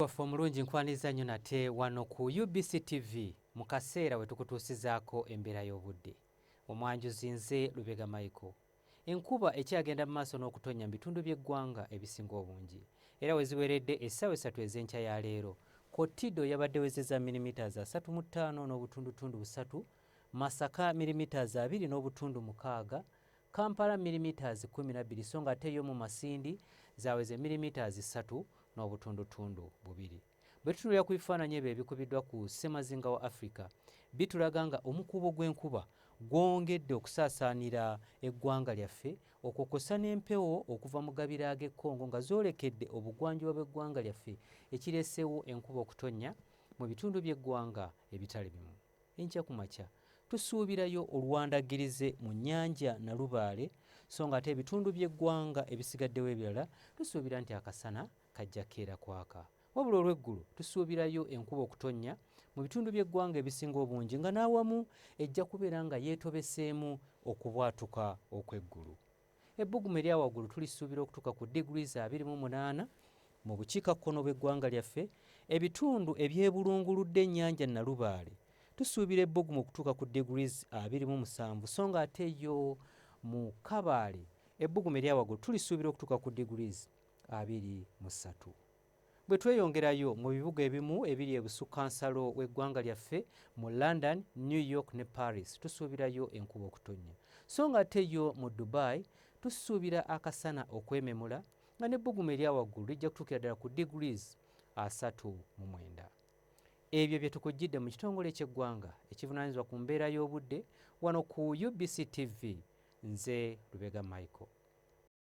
Mukulu waffe omulungi nkwaniriza nnyo nate wano ku UBC TV mu kaseera we tukutuusizaako embeera y'obudde. Omwanjuzi nze Lubega Michael. Enkuba ekyagenda mu maaso n'okutonnya mu bitundu by'eggwanga ebisinga obungi era we ziweredde essaawa essatu ez'enkya ya leero, Kotido yabadde wezeza milimiters asatu mu ttaano n'obutundutundu busatu, Masaka milimiters abiri n'obutundu mukaaga, Kampala milimetres kkumi na bbiri so nga ate yo mu Masindi zaaweze milimetres ssatu n'obutundutundu bubiri. Bwe tutunuulira ku bifaananyi ebyo ebikubiddwa ku ssemazinga wa Africa, bitulaga nga omukuubo gw'enkuba gwongedde okusaasaanira eggwanga lyaffe okwo kwossa n'empewo okuva mu gabira ag'e Congo nga zoolekedde obugwanjuba bw'eggwanga lyaffe ekireeseewo enkuba okutonnya mu bitundu by'eggwanga ebitali bimu. Enkya ku makya tusuubirayo oluwandagirize mu nnyanja Nalubaale so ng'ate ebitundu by'eggwanga ebisigaddewo ebirala tusuubira nti akasana kajja keera kwaka. Wabula olw'eggulo tusuubirayo enkuba okutonnya mu bitundu by'eggwanga ebisinga obungi nga n'awamu ejja kubeera nga yeetobeseemu okubwatuka okw'eggulu. Ebbugumu erya waggulu tulisuubira okutuuka ku degrees abiri mu munaana mu bukiikakkono bw'eggwanga lyaffe, ebitundu ebyebulunguludde ennyanja Nalubaale tusuubira ebbugumu okutuuka ku degrees abiri mu musanvu so nga ate yo mu Kabaale ebbugumu erya waggulu tulisuubira okutuuka ku degrees abiri mu ssatu. Bwe tweyongerayo mu bibuga ebimu ebiri ebusukkansalo w'eggwanga lyaffe mu London, New York ne Paris tusuubirayo enkuba okutonnya so ng'ate yo mu Dubai tusuubira akasana okwememula nga n'ebbugumu erya waggulu lijja kutuukira ddala ku degrees asatu mu mwenda. Ebyo bye tukujjidde mu kitongole ky'eggwanga ekivunaanyizibwa ku mbeera y'obudde wano ku UBC TV. Nze Lubega Michael.